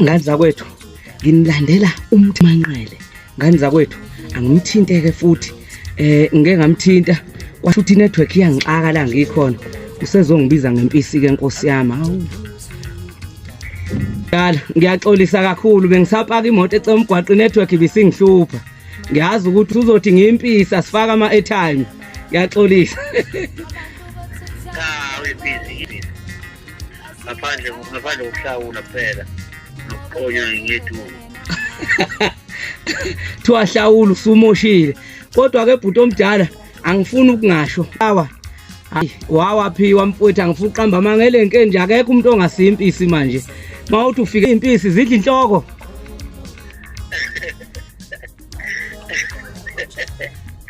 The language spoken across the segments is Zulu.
ngani zakwethu nginilandela umthi manqele ngani zakwethu angimthinteke futhi eh ngeke ngamthinta kwasho ukuthi network iyangixaka la ngikhona usezongibiza ngempisi ke nkosi yami hawu Dala ngiyaxolisa kakhulu bengisapaka imoto ecemgwaqo network ibisingihlupha ngiyazi ukuthi uzothi ngimpisa sifaka ama airtime ngiyaxolisa ngaphandle ngaphandle kokuhlawula kuphela nokuqonywa ngethunga thiwa hlawula usumoshile kodwa ke bhuti omdala angifuni ukungasho awa hayi wawaphiwa mfowethu angifuni uqamba amanga elenke nje akekho umuntu ongasiya impisi manje mawuthi ufike impisi zidla inhloko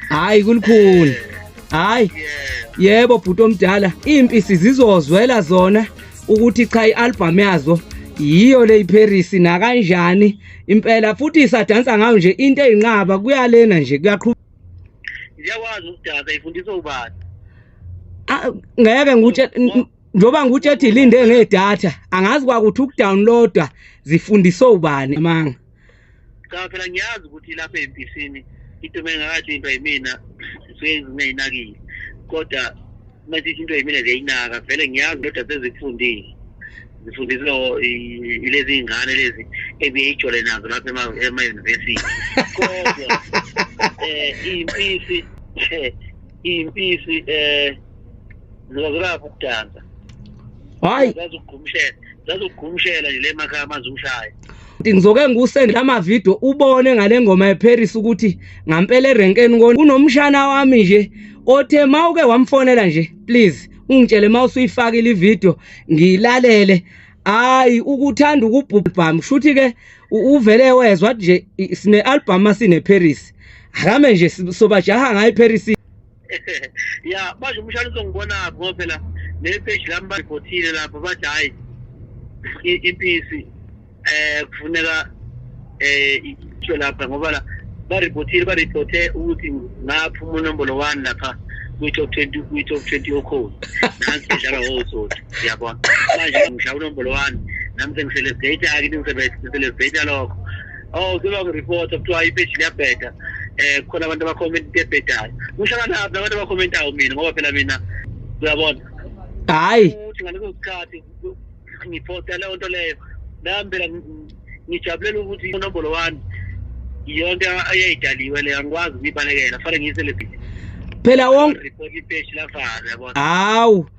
hayi kulikhulu hayi yebo bhuti omdala impisi zizozwela zona ukuthi cha ialbum yazo yiyo le iParis nakanjani impela futhi isadansa ngayo nje into ezinqaba kuyalena nje kuyaqhubeka ngiyawazi ukudansa ifundiswa ubani ah, ngeke ngikutshe njoba ngikutshe ethi linde ngedatha angazi kwakuthi ukudownloada zifundiswa ubani amanga cha phela ngiyazi ukuthi lapha empisini into mengakathi into yimina suke ngingayinakile kodwa manje into yimina ziyayinaka vele ngiyazi kodwa sezikufundile zifundiswe ilezi iy'ngane lezi ebiye ijole nazo lapha emayunivesithi kodwa um iy'mpisi iy'mpisi um ziwakulapha ukudansa hayi zazokugumshela zazokugumshela nje le makhaya amanzi umshaya ngizoke ngikusende lama video ubone ngale ngoma yeParis ukuthi ngampela erenkeni kunomshana wami nje othe mawuke wamfonela nje please ungitshele mawusuyifakile ivideo ngilalele hayi ukuthanda ukubhubhama shuthi ke uvele wezwa nje sine album asine Paris akame nje sobajaha ngayi Paris ya manje umshana uzongibonaphi ngoba phela le page lami baripotile lapho bathi hhayi iphisi um kufuneka um isho lapha ngoba la baripotile baripote ukuthi ngaphuma unombolo one lapha kwi-top twenty kwi-top twenty okhona nansi bedlala wosoti yabona manje ngisha unombolo one nami sengiselesdata-ke ningiselesdata lokho oh kuba ngireporta kuthiwa ipeji liyabheda eh khona abantu abakhomenta into ebhedayo ngihlangana phi abantu abakhomentayo mina ngoba phela mina uyabona hayi ukuthi ngaleso sikhathi ngiposta leyo nto leyo nami phela ngijabulela ukuthi inombolo wami yonke ayayidaliwe leyo angikwazi ukuyibalekela fanele ngiyiselebrity phela wonke hawu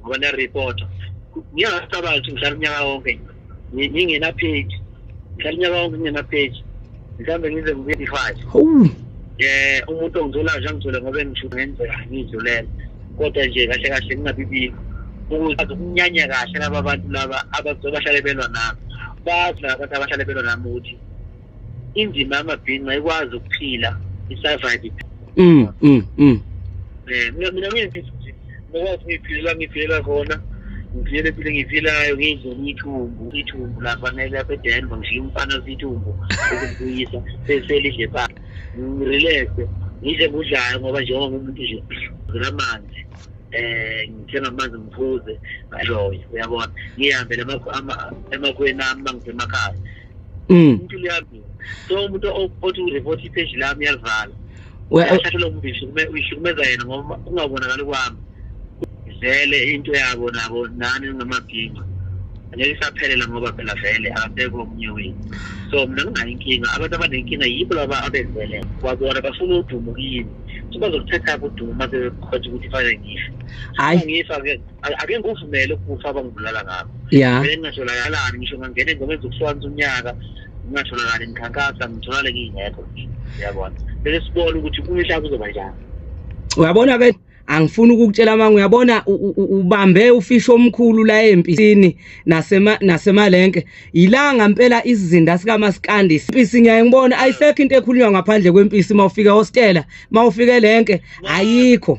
ngoba ne report ngiyasabazi ukuthi ngihlala unyaka wonke ngingena page ngihlala unyaka wonke ngingena page mhlawumbe ngize ngibe five eh umuntu ongithola nje angithole ngoba engisho ngenzeka ngidlulele kodwa nje kahle kahle ngingabibikho ukuze ukunyanya kahle laba bantu laba abazobahlale belwa nami bazi laba bantu abahlale belwa nami ukuthi indima yamabhinca ikwazi ukuphila i-survive mm mm mm eh mina mina ngithi ngokwazi ngiphilela ngiphilela khona ngivele phile ngivilayo ngidle ithumbu ithumbu lapha nelapha edenver ngishiye umfana sithumbu ukubuyisa seselidle pha ngirelaxe ngidle kudlayo ngoba njengoba ngumuntu nje ngizela amanzi eh ngithenga amanzi ngiphuze ngaloyo uyabona ngihambe emakhweni ami mangisemakhaya mm. umuntu liyabika so umuntu othi ureport ipage lami yalivala uyahlathelwa umbishi uyihlukumeza yena ngoba kungabonakali kwami vele into yabo nabo nani ngamabhinga ngeke isaphelela ngoba phela vele akasekho omunye wethu so mina nginayo inkinga abantu abanenkinga yibo laba abezelele kwabona bafuna udumo kini so bazokuthathaphi udumo uma sebekhothi ukuthi fanele ngife ngifa ke ake ngikuvumele ukubusa abangibulala ngakho yeah mina ngingatholakalani ngisho ngangena engomeni zokuhlukanisa unyaka ngingatholakali ngikhankasa ngitholakale ngingekho yabona bese sibone ukuthi kumihla kuzoba njani uyabona ke angifuni ukukutshela manga uyabona ubambe ufisho omkhulu la empisini nasema nasemalenke ilanga impela isizinda sika maskandi impisi ngiyaye ngibona ayisekho into ekhulunywa ngaphandle kwempisi mawufika hostela mawufike lenke ayikho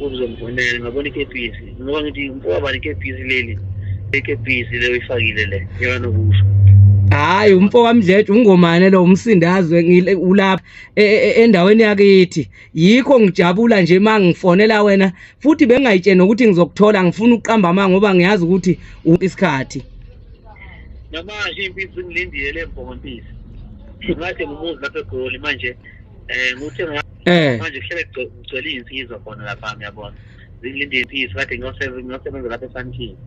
ukuzomfonela ngabona ikepisi ngoba ngithi mfowabani ikepisi leli ekepisi leyo ifakile le yona nokusho hayi umfo kamdledle ungomane lo umsindazwe ulapha e, e, e, endaweni yakithi yikho ngijabula nje uma ngifonela wena futhi bengingayitsheni nokuthi ngizokuthola ngifuna ukuqamba amanga ngoba ngiyazi ukuthi isikhathi namanje impisi ngilindile le mbongo mpisi ngathi ngumuzi lapha egoli manje um nguthe eh manje kuhlele kugcwele izinsizwa khona lapha ngiyabona zilinde izinsizwa kade ngiyosebenza ngiyosebenza lapha esantini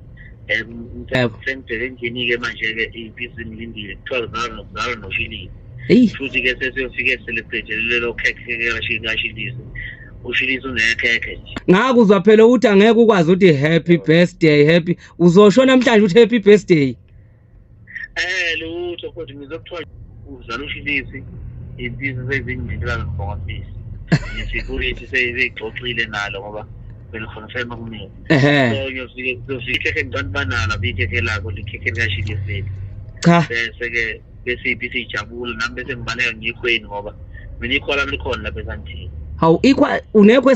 um sengibheke endlini-ke manje-ke iy'mbizi ngilindile kuthiwa zalo zalo noshilile futhi-ke sesiyofike celebrate lelo khekhe kashilise ushilise unekhekhe nje ngakuzwa phela ukuthi angeke ukwazi ukuthi happy birthday happy uzosho namhlanje ukuthi happy birthday Eh lutho futhi ngizokuthiwa uzala ushilisi izinto sezinjindela ngibonga sisi. Ngisikulithi seyigxoxile nalo ngoba belikhona sema kumina. So ngiyofike ngiyofike ngicela banana bikhekhe lakho likhekhe likashilisi. Cha. Bese ke bese ibisi ijabule nami bese ngibaleka ngikhweni ngoba mina ikhola likhona lapha esandini. Hawu ikwa unekho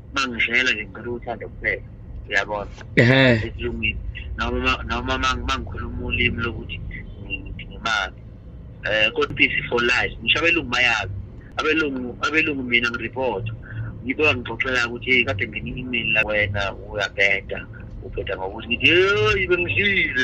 mangizele nje ngicela uthando kuphela uyabona ehe esilungwini noma noma mangikhuluma ulimi lokuthi ngimali eh kodwa peace for life ngisho abelungu bayazi abelungu abelungu mina ngirepotha yibo ngixoxela ukuthi kade ngene i-email la wena uyabheda ubheda ngokuthi ngithi yeyi bengishile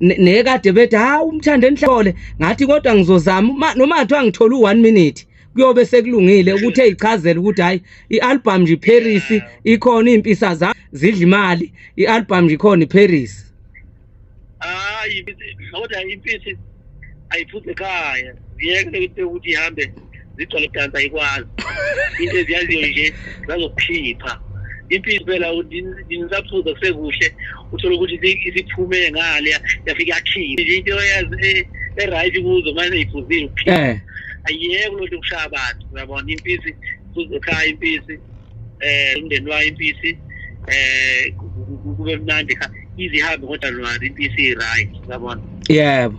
nekade bethi ha umthanda enhlole ngathi kodwa ngizozama noma kuthiwa ngithola u1 minute kuyobe sekulungile ukuthi eyichazela ukuthi hayi ialbum nje Paris ikhona impisa za zidla imali ialbum nje ikhona iParis hayi kodwa impisi ayiphuphe ekhaya ngiyeke ukuthi ihambe zigcwale dansa ayikwazi into eziyaziyo nje zazokukhipha impilo impela nisaphuza kusekuhle uthole ukuthi isiphume ngale yafike yakhiphe nje into e, e-right kuzo manje iphuzile ukukhipha eh. ayiyeke loo nto ukushaya abantu uyabona impisi ekhaya impisi um umndeni wayo impisi um kube mnandi ize ihambe ngodalwane impisi i-right uyabona yebo